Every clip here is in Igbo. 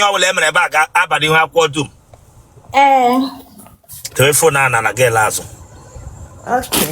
ihe ọbụla e mere ebe a ga-aba n'ihu akwụkwọ dum ee telefon a na na gị ele azụ okay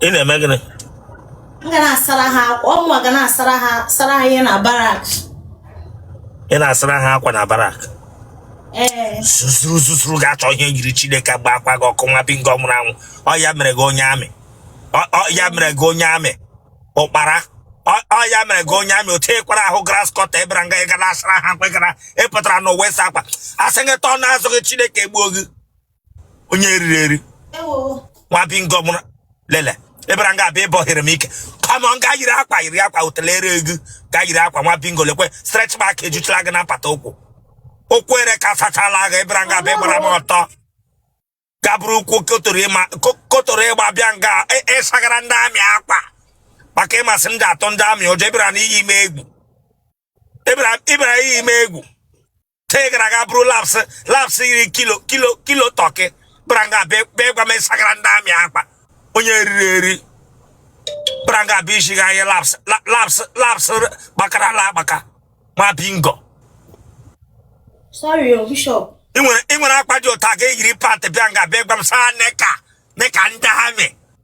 ị na-eme gịnị m ga na-asara ha akwa ọ mụwa ga na-asara ha sara ha ihe na barak ị na-asara ha akwa na barak ee zuzuru zuzuru ga-achọ ihe yiri chineke gba akwa gị ọkụ nwa bingo nwụrụ anwụ ọ ya mere gị onye amị Ọ- ọ ya mere gị onye amị ụkpara Ọ ọ ya mere gị onye amị otu ị kwara ahụ grass cutter ị bịara nga ị ga na-asara ha akwa ị gara ị pụtara n'ụwa ịsa akwa a sị gị tọọ n'azụ gị chineke gbuo gị onye eriri eri nwa bingo mụrụ lele ị bịara nga a bịa ịbọhere m ike kama nga yiri akwa yiri akwa utelere ego ga yiri akwa nwa bingo lekwe stretch mark ejuchala gị na mpata ụkwụ ụkwụ erekasachala gị ị bịara nga a bịa gbara m ọtọ ga buru ụkwụ kotoro ịma ko- kotoro ịgba bịa nga ị- ịsagara ndị amị akwa maka ị ma sị m na-atụ ndị amị ụjọ ị bịara n'iyi m egwu ị bịara ị bịara iyi m egwu te gara ga buru laps laps yiri kilo kilo kilo tọkị bịara nga a bịa gwa m ịsagara ndị amị akwa onye eriri eri bịara nga a bịa isi gị anyị laps laps laps gbakarala agbaka nwa bingo sorry o oh, bishop ị nwere akwa dị ụta ga-eyiri pant bịa nga bịa gwa m saa nika nika ndị amị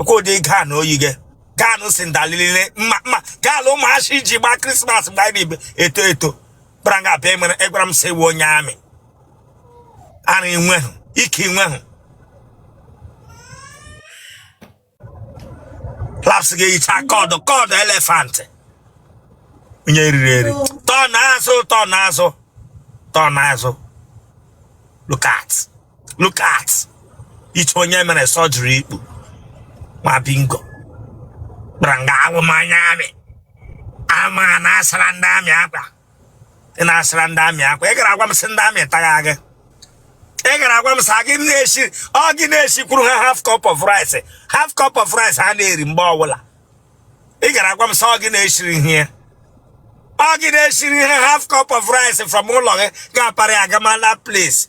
ọ kwa ụdị gown o yiga gown cinderella mma mma gown ụmụashị ji gbaa krismas mgbe anyị na-ebe eto eto bịara nga a bịa emere ị gwara m sị ị wụ onye amị ara i nwehụ ike i nwehụ laps ga-ehicha ka ọdụ ka ọdụ elefantị onye eriri eri tọ n'azụ tọ n'azụ tọ n'azụ look at look at iche onye mere surgery ikpu nwa bingo bịara nga a wụ m onye amị ama na-asara ndị amị akwa ị na-asara ndị amị akwa ị gara agwa m sị ndị amị tagha gị ị gara agwa m sị gị na-esi ọ gị na-esikwuru ha half cup of rice half cup of rice ha na-eri mgbe ọbụla ị gara agwa m sị ọ gị na-esiri ihe ọ gị na-esiri ihe half cup of rice from ụlọ gị ga-aparị agamala place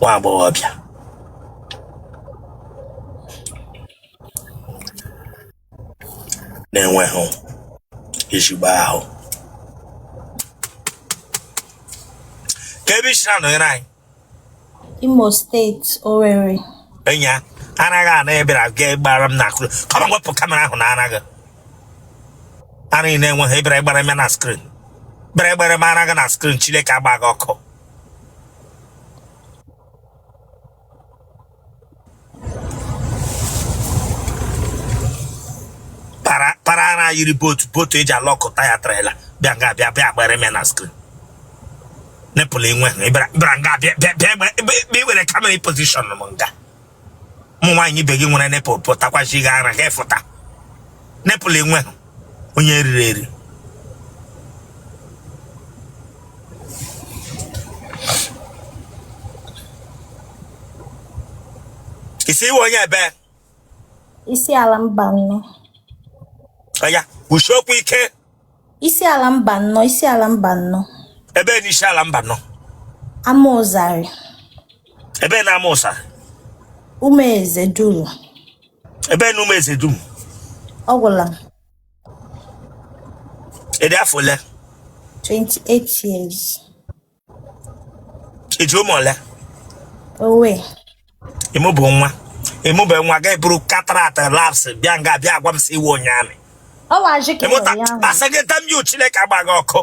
nwa agbọghọbịa na-enwehụ ezigbo ahụ ka ebe isi na-anọnyere anyị Imo steeti Owerri enya ara gị ana ebere aga gbara m na akụrụ kama wepụ kamera ahụ na ara gị ara gị na-enweghị bra gbara m na skrin bịara gbara m ara gị na skrin Chineke agba gị ọkụ na yiri botu botu eji alọkụ taya trela bịa nga bịa bịa gbara m na skrin nepụl enwehe ị bịara nga bịa bịa bịa were kamera pozishọn m nga ụmụ nwaanyị ibe gị nwere nepụl pụtakwachi gị ara ha efụta nepụl enwe onye e riri eri ị sị ị wụ onye ebe Isiala Mbano ọya kwusie okwu ike Isiala Mbano, Isiala Mbano. Ebe na Isiala Mbano. Amauzari. Ebe na Amauzari. Umuezeduru. Ebe na Umuezeduru. Ọ gwụla m. Ị dị afọ ole? 28 years. i ji ụmụ ole owe ị mụbe nwa ị mụbe nwa ga eburu katarat laps bịa nga bịa agwa m sị ị wụ onye amị ọ wụ ajị ka ịmụta ya ahụ asagịta m yu chineke agba gị ọkụ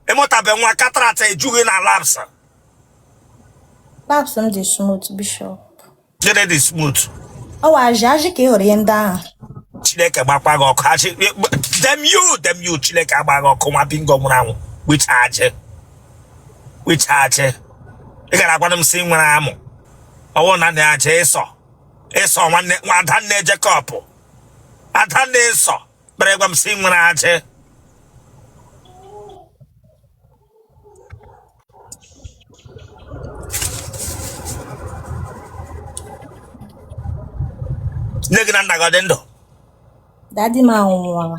ị mụtabe nwa katarat eju gị na laps laps m dị smooth bishop Gịnị dị smooth? ọ wụ ajị ajị ka ị hụrụ ihe ndị ahụ Chineke gbakwa gị ọkụ. Ajị, damn you, damn you. Chineke agba gị ọkụ nwa bingo nwụrụ anwụ. Which ajị? Which ajị? Ị gara agwara m sị i nwere amụ. Ọ wụ na na ajị Ịsọ. Ịsọ nwanne nwa Adanne Jekọb. Adanne Ịsọ. Bịara gwa m sị i nwere ajị. nne gị na nna gị ọ dị ndụ dadi m anwụọla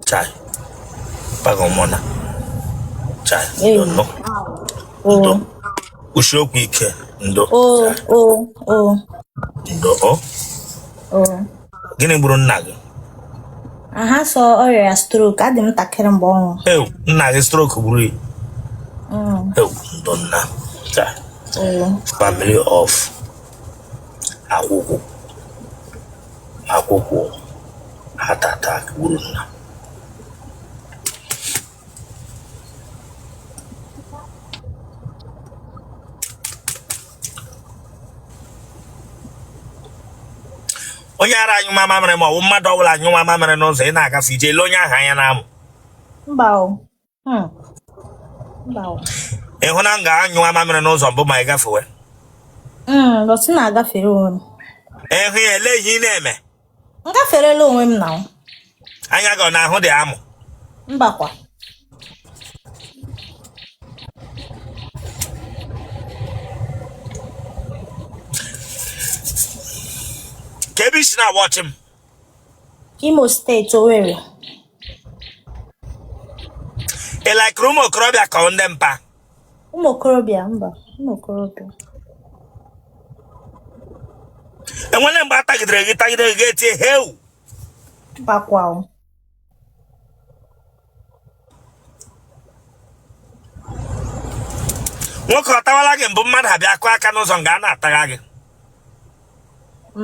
chai paga ụmụna chai Ee. ndo o ndo kwusie okwu ike ndo o o o ndo o o gịnị gburu nna gị aha sọ ọrịa ya strok adị m ntakịrị mgbe ọ nwụrụ ewu nna gị strok gburu ya Mm, ewu ndo nna chai oo. family of akwụkwụ akwụkwụ heart attack gburu nna onye ara anyụma mamịrị ma ọ bụ mmadụ ọbụla anyụma mamịrị n'ụzọ ị na-agafe ị je ele onye ahụ anya n'amụ mba o Hmm. mba o ị hụna nga a nyụma mamịrị n'ụzọ mbụ ma ị gafewe Mm, but ị na-agafere onwe m ị hụ ya ele ihe ị na-eme m gaferela onwe m now. anya gị ọ na-ahụdị amụ mbakwa ka ebe i si na-awọchị m imo state owerri ị laikiri ụmụ okorobịa ka ọ ndị mpa ụmụ okorobịa mba ụmụ okorobịa e nwere mgbe a tagidere gị tagide gị i tie heu mbakwa o. nwoke ọ tawala gị mbụ mmadụ abịa kụọ aka n'ụzọ nga a na-atagha gị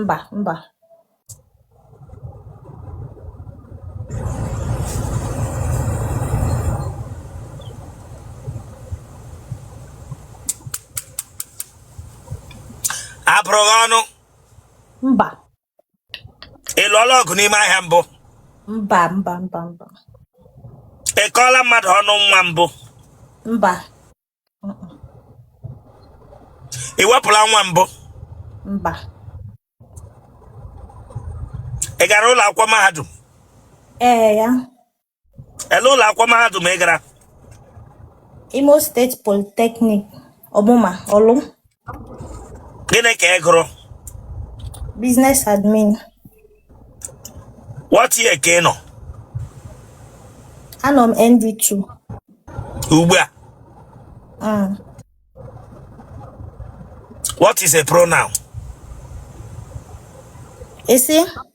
mba mba a bụrụ gị ọnụ mba ị lụọla ọgụ n'ime ahịa mbụ mba mba mba mba ị kọọla mmadụ ọnụ nwa mbụ mba ị wepụla nwa mbụ mba ị gara ụlọ akwụkwọ mahadum ee ya ele ụlọ akwụkwọ mahadum ị gara imo state polytechnic ọmụma ọlụ gịnị ka ị gụrụ business admin what year ka ị nọ anọ m nd2 ugbu a mm. what is a pronoun i si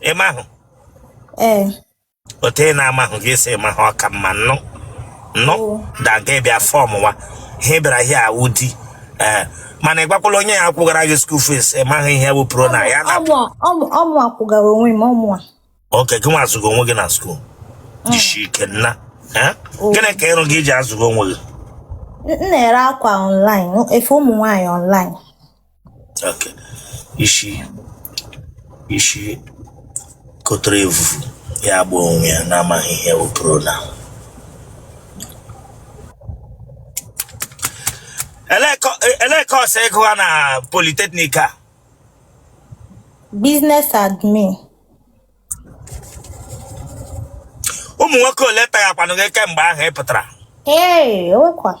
ị mahụ ee otu ị na-amahụ gị esi mahụ ọ ka mma nnụ nnụ Oo. daga ị bịa fọm wa ihe ị bịara ihe awụ di ee mana ị gwakwala onye ya akwụgara gị school fees ị maghị ihe bụ pronoun ọ mụ akwụgara onwe m ọ mụ a okay gị nwa azụga onwe gị na school jisi ike nna ee Oo. gịnị ka ị rụga i ji azụga onwe gị N- m na-ere akwa online efe ụmụ nwaanyị online Okay. Isi isi kotere evu ya agba onwe ya na-amaghị ihe bụ pronoun. Elee kọ- e- elee course ị gụwa na polytechnic a? Business admin. Ụmụ nwoke ole taghakwanụ gị kemgbe ahụ ị pụtara? Ee, o nwekwa.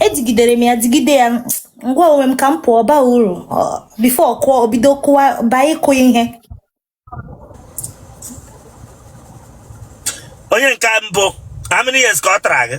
ejigidere m ya jigide ya ngwa onwe m ka m pụọ baa uru before kụọ obido kụwa baa ịkụ ihe onye nke mbụ how many years ka ọ tara gị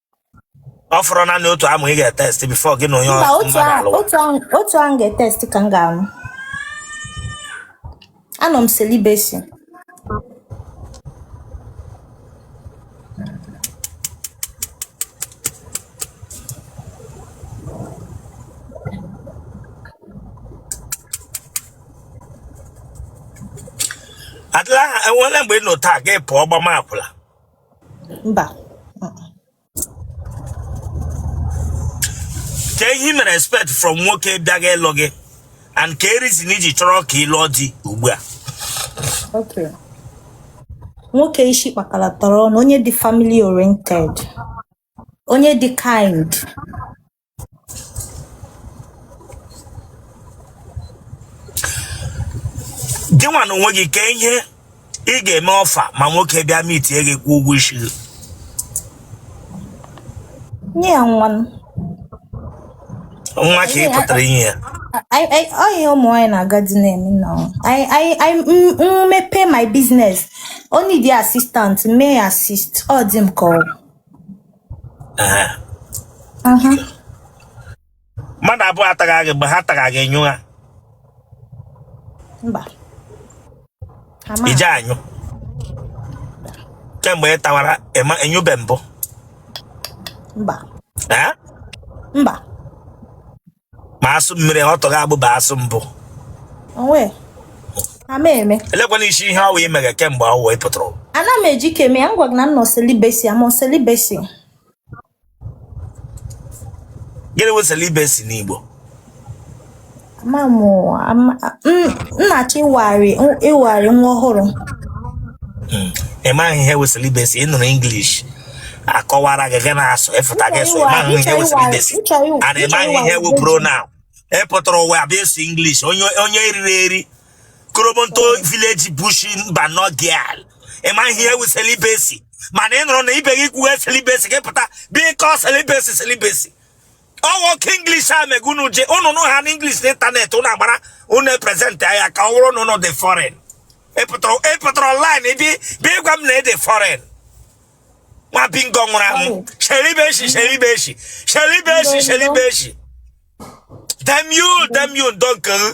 ọ fọrọ naanị otu amụ ị ga-etest before gị na onye mba ọ- otu mmadụ ahụ alụwa otu ahụ otu ahụ ga-etest ka m ga-anụ anọ m celibacy adịla aha enwere mgbe ị nọ taa gị pụọ gbama akwụla mba kee ihe ị mere expect from nwoke bịaga ịlụ gị and kee reason i ji chọrọ ka ị lụọ di ugbu a okay nwoke isi kpakala tọrọ ọnụ onye dị family oriented onye dị kind gị nwa na onwe gị kee ihe ị ga-eme offer ma nwoke bịa meetie gị kwụọ ụgwọ isi gị nye ya nwa m. nwa ka ị pụtara inye ya Anyị- anyị- ọ ihe ụmụ nwaanyị na-aga di na-eme na ọ. Anyị- anyị- anyị- m- m mepee my business o need assistant mee ya assist ọ dị m ka ọ Ehe. Mhm. mmadụ abụọ a tara gị mgbe ha tara gị ị nyụ ha mba Ha ma- i je anyụ kemgbe ị tawara ị nyụbe mbụ mba Ee? mba ma asụ mmiri ọtụ gị agbụba asụ mbụ onwe ama eme elekwana isi ihe ọ wụ i mega kemgbe ọ wụ ị pụtara ụwa. ana m eji keme ya ngwa gị na m nọ celibacy am on celibacy gịnị wụ celibacy n'Igbo ama m ama- m- m na-achọ ịwagharị ịwagharị nwa ọhụrụ ị maghị ihe wụ celibacy ị nụrụ English akọwara gị gị na-asụ ị pụta gị sụ ị maghị ihe wụ celibacy and ị maghị ihe wụ pronoun ị pụtara ụwa abịa ịsụ English onye onye eriri eri korobonto village bush Mbano girl ị maghị ihe wụ celibacy mana ị nụrụ na ibe gị kwuwe celibacy gị pụta bịa kọ celibacy celibacy ọ wụ oke English a mega unu ji unu nụ ha n'English na internet unu agbara unu epresent ya ka ọ wụrụ na unu dị foreign ị pụtara online bị bị ịgwa m na ị dị foreign nwa bingo nwụrụ anwụ celibacy celibacy celibacy celibacy damn you damn you donkere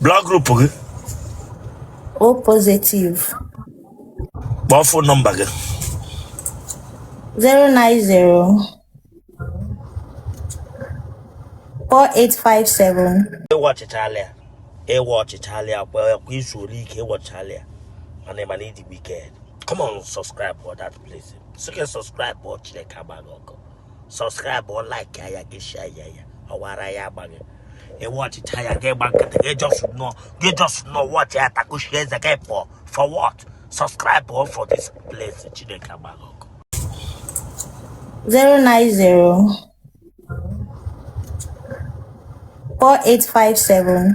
blood group gị o positive kpọọ fon nọmba gị 090 4857 ị wọchịchala ya ị wọchịchala ya kwa kwa i zuole ike ị wọchịchala ya mana ị ma na ị dị wiked come on subscribe for that place sị gị subscribe o chineke agba gị ọkụ sọskraịbụ o laiki ya gị shia ya ya ọwara ya agba gị ị wọchịcha ya gị gba nkịtị gị jọs nọ gị jọs nọ wọchị ya takushi eze gị pụọ for what subscribe o for this place chineke agba gị ọkụ 090 4857